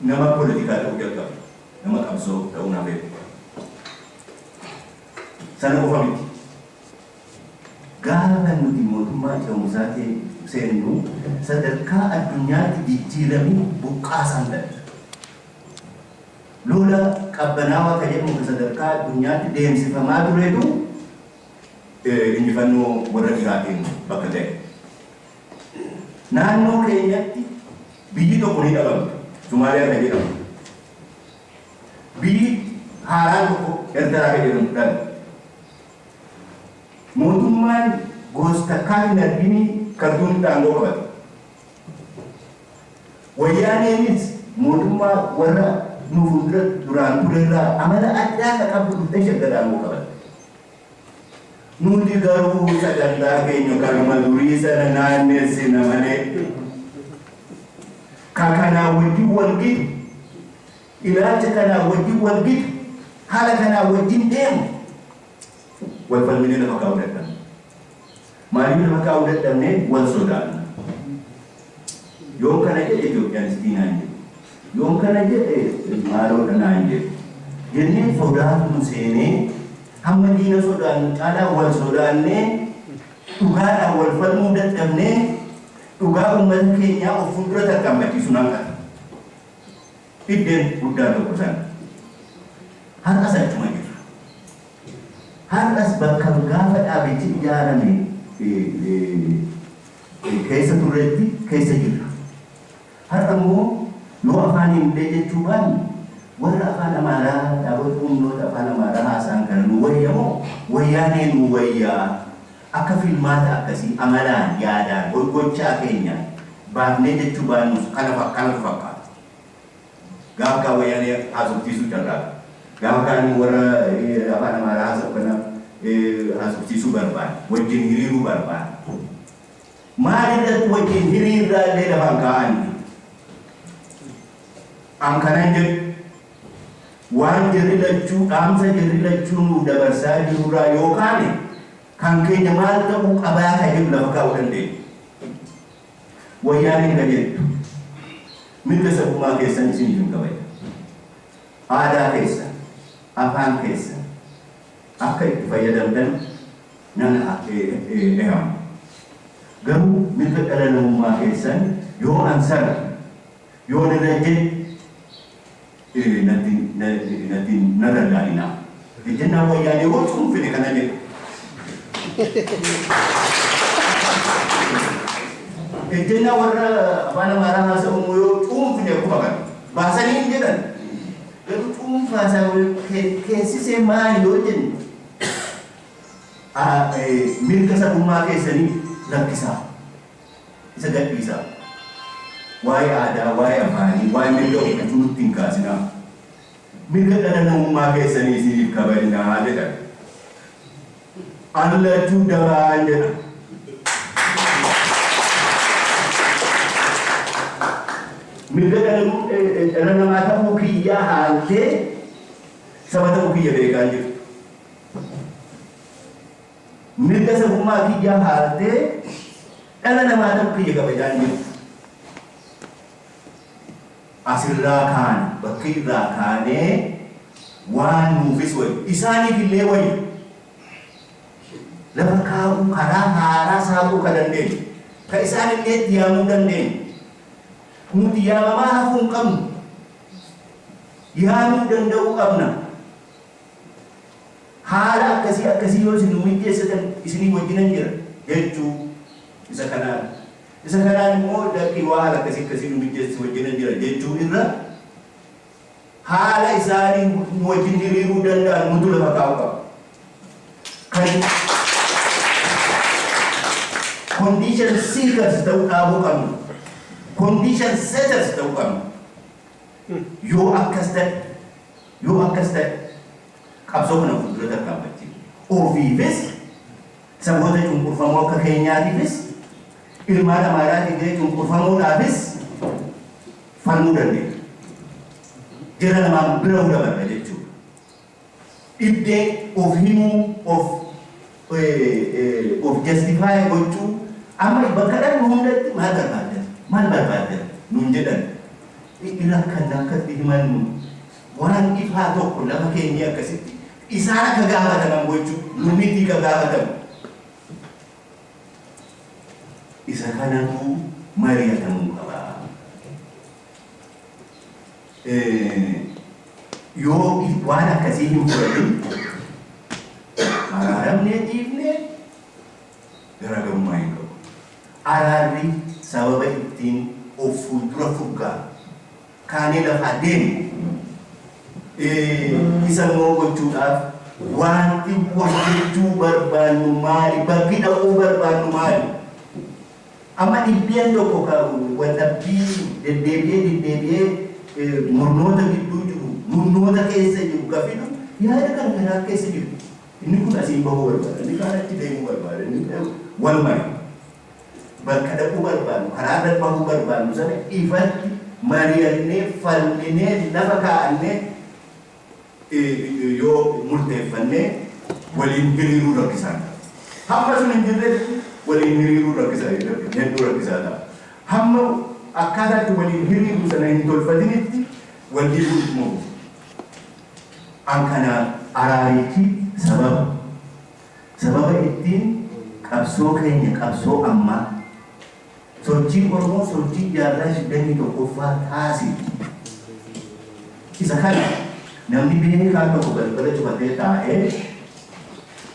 nama politikaa ta'uu jalqabe. Nama qabsoo ta'uu na beeku. Sana qofa miti. Gaafa nuti mootummaa ce'umsaa seennu sadarkaa addunyaatti jijjiiramni buqqaasaan darbe. Lola qabbanaawaa kan jedhamu kan sadarkaa addunyaatti deemsifamaa turetu injifannoo warra dhihaatiin bakka ga'e. Naannoo keenyatti Biyyi tokko ni dhabamti. Somaaliyaa kan jedhamtu biyyi haaraan tokko Ertaraa kan jedhamtu dhalti. Mootummaan goos takkaa hin arginii Kartuumitti aangoo qabate. Wayyaaneenis mootummaa warra nu fuuldura duraan turerraa amala addaa kan qabdu dhuftee Shaggar aangoo qabatte. Nuti garuu sagantaa keenya kanuma durii sana naannessina malee ka kanaa wajjin wal gitu, ilaalcha kanaa wajjin wal gitu, haala kanaa wajjin deemu wal falminee lafa kaa'uu dadhabne. Maaliif lafa kaa'uu dadhabne wal sodaanna. Yoon kana jedhe Itoophiyaanistii naan jedhu. Yoon kana jedhe maaloodha naan jedhu. Jennee sodaatu nu seenee hamma diina sodaannu caalaa wal sodaannee dhugaadhaan wal falmuu dadhabnee dhugaa uummata keenyaa of fuuldura tarkaanfachiisuun hanqata. Dhibben guddaan tokko sana. Har'as achuma jirra. Har'as bakka gaafa dhaabichi ijaarame keessa turreetti keessa jirra. Har'a immoo yoo afaaniin illee jechuu baanne warra afaan Amaaraa dhaabota humnoota afaan Amaaraa haasa'an kana nuu wayya moo wayyaanee nuu wayyaa akka filmaata akkasii amalaan, yaadaan, gochaa keenyaan baafnee jechuu baannus kanatu fakkaata. Gaafkaa wayyaanee haasofsiisuu carraaqa. Gaafkaa inni warra afaan Amaaraa haasawu kana haasofsiisuu barbaada. Wajjin hiriiruu barbaada. Maal irratti wajjin hiriirraa illee lafa hin kaa'ani. An kanan jedhu waan jarri lachuu dhaamsa jarri lachuu nuuf dabarsaa jirurraa yoo kaane kan keenya maal ta'uu qabaa kan jedhu lafa kaa'uu dandeenya. Wayyaaneen qajeeltu mirga sabummaa keessan isiniif hin kabajne. Aadaa keessan, afaan keessan akka itti fayyadamtan nan eehama. Garuu mirga dhala namummaa keessan yoo an sarbe, yoon irra ejjedhe, natti na dallaaninaa. Ejjennaan Wayyaanee gochuun fedhe kana jedhe. Ejjennaa warra afaan Amaaraa haasa'u immoo yoo cuunfine akkuma kana baasanii hin jedhan. Garuu cuunfaa isaa keessisee maali yoo jenne mirga sabummaa keessanii rakkisaa. Isa gadhiisaa. Waa'ee aadaa, waa'ee afaanii, waa'ee mirga ofiifuu nutti hin kaasinaa. Mirga dhala namummaa keessanii isiniif kabajnaa jedhan. An lachuu dabaan jedha. Mirga dhala namaa ta'uu kiyyaa haaltee saba ta'uu kiyya beekaa hin jirtu. Mirga sabummaa kiyyaa haartee dhala namaa ta'uu kiyya kabajaa hin jirtu. As irraa kaane, bakka irraa kaanee waan nuufis wayyu, isaaniif illee wayyu lafa kaa'uu, karaa haaraa saaquu ka dandeenyu, ka isaan illee itti yaamuu dandeenyu, nuti yaamamaa hafuu hin qabnu, yaamuu danda'uu qabna. Haala akkasii akkasii yoo isin nuu mijjeessitan isinii wajjinan jira jechuu isa kanaan isa kanaan immoo lakkii waa haala akkasii akkasii nuu mijjeessi si wajjinan jira jechuu irra haala isaanii nu wajjin hiriiruu danda'an nutu lafa kaa'u qaba. Kan condition seekers ta'uu dhaabuu qabna. Condition setters ta'uu qabna. Yoo akkas ta'e Yoo akkas ta'e qabsoo kana fuuldura tarkaanfachiifne ofiifis, saboota cunqurfamoo akka keenyaatiifis, ilmaan Amaaraa Tigree cunqurfamoodhaafis falmuu dandeenya. Jara lamaan bira dabarra jechuudha. Dhibdee of himuu, of of justify gochuu amma iba kadhannu hundatti maal barbaaddan maal barbaaddan nuun jedhan ni rakkanna akkatti himannu waan ifaa tokko lafa keenyee akkasitti isaan akka gaafataman gochuu nu mitii ka gaafatamu isa kanatu mari'atamuu qaba. Yoo waan akkasii hin fudhatin araaramnee dhiifne garaagarummaa hin qabu. Araarri sababa ittiin of fuuldura fuggaa kaanee lafaa deemnu isa immoo gochuudhaaf waanti hojjechuu barbaannu maali? Bakki dhaquu barbaannu maali? Amma dhibbeen tokko ka waldhabbii deddeebi'ee deddeebi'ee murnoota gidduu jiru, murnoota keessa jiru ka fidu yaada kana kanaaf keessa jirti. Inni kun asiin bahuu barbaada, inni kaan achi deemuu barbaada, inni kun walumayu bakka dhaquu barbaannu, karaa gad bahuu barbaannu sana ifatti mari'annee, falminee, lafa kaa'annee, yoo murteeffanne waliin hiriiruun rakkisaa ta'a. Hamma sun hin jirretti waliin hiriiruun rakkisaa hedduu rakkisaa ta'a. Hamma akkaataa itti waliin hiriirru sana hin tolfatinitti wal dhiibuun ittuma fufa. An kanaa araarichi sababa sababa ittiin qabsoo keenya qabsoo ammaa. Sochiin Oromoo sochii jaarraa 21ffaa taasise isa kana namni beekaan tokko balbala cufatee taa'ee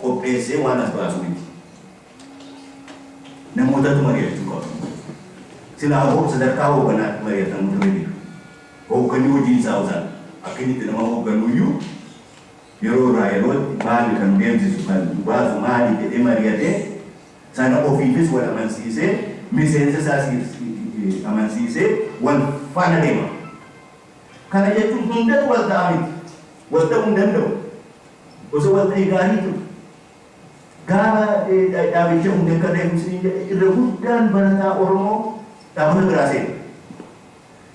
qopheessee waan as baasu miti. Namootatu mari'achuu qaba. Silaa hoo sadarkaa hoogganaatti mari'atamuu ture jedhu. Hoogganni hojiin isaa osaan akka inni itti nama hoogganuu iyyuu yeroo irraa yerootti maali kan deemsisu kan baasu maali jedhee mari'atee sana ofiifis wal amansiisee miseensa isaas amansiisee wal faana deema. Kana jechuun hundatu wal ta'a miti. Wal ta'uu hin danda'u. Osoo wal ta'ee gaarii ture. Gaafa dhaabicha hundee akka ta'e irra guddaan barataa Oromoo dhaabota biraa seena.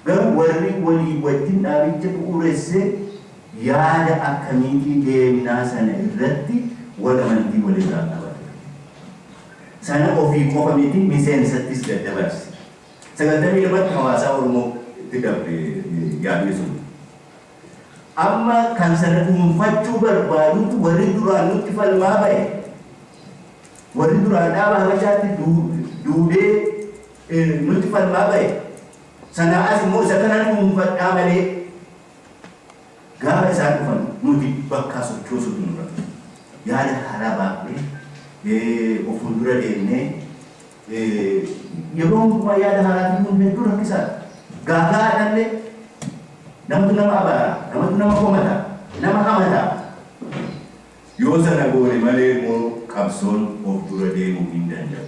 Garuu warri walii wajjin dhaabicha bu'uuresse yaada akkamiitii deemnaa sana irratti wal amantii wal irraa qaba ture. Sana ofii qofa miti miseensattis daddabarse. 92tti hawaasaa Oromoo tti darbe yaadni sun. Amma kan sana dhuunfachuu barbaadutu warri duraan nutti falmaa ba'e, warri duraan dhaaba habachaatti duudee, nutti falmaa ba'e sanaa as immoo isa kana dhuunfadhaa malee gaafa isaan dhufan nuti bakkaa sochoosuutu nurra ture. Yaada haaraa baafnee of fuuldura deemnee yeroo hundumaa yaada haaraa fiduun hedduu rakkisaadha. Gaafa haadhallee namtu nama abaara, namatu nama komata, nama hamata. Yoo sana goone malee immoo qabsoon of dura deemuu hin danda'u.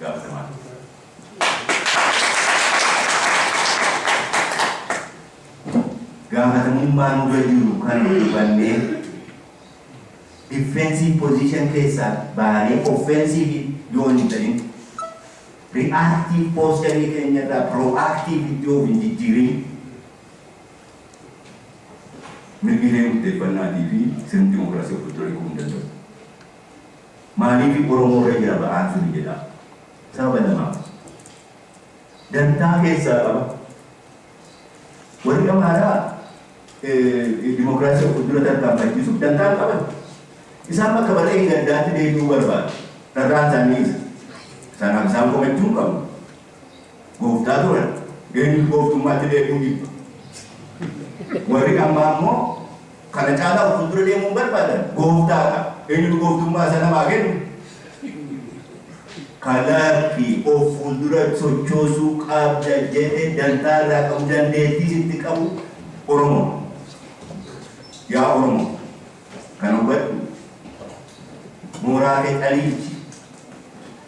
gaafatamaa ture. Gaafatamummaa nurra jiru kan hubannee defensive position keessaa baanee offensive yoo hin ta'in reactive posture keenya irraa proactive itti yoo hin jijjiirin mirgi hiree murteeffannaatii fi sirni dimokiraasii of itti ol hiikuu hin danda'u. Maaliifi Oromoo irra jira ba'aan suni jedhaa? Sababa lamaaf. Dantaa keessaa qaba. Warri Amaaraa dimokiraasii of fuldura tarkaanfachiisuuf dantaa hin qaban. Isaan bakka bara dheengaddaatti deebi'uu barbaadu. Carraan isaanii isa. Sanaaf isaan komachuu hin qabu. Gooftaa turan. Eenyutu gooftummaatti beekuu jibba. Warri ammaa immoo kana caalaa of fuuldura deemuu hin barbaadan. Gooftaadha. Eenyutu gooftummaa isa namaa kennu? Kalaarki of fuuldura sochoosuu qabda jedhe dantaa irraa qabu dandeettii itti qabu Oromoo. Yaa Oromoo kana hubadhu. Mooraa kee caliichi.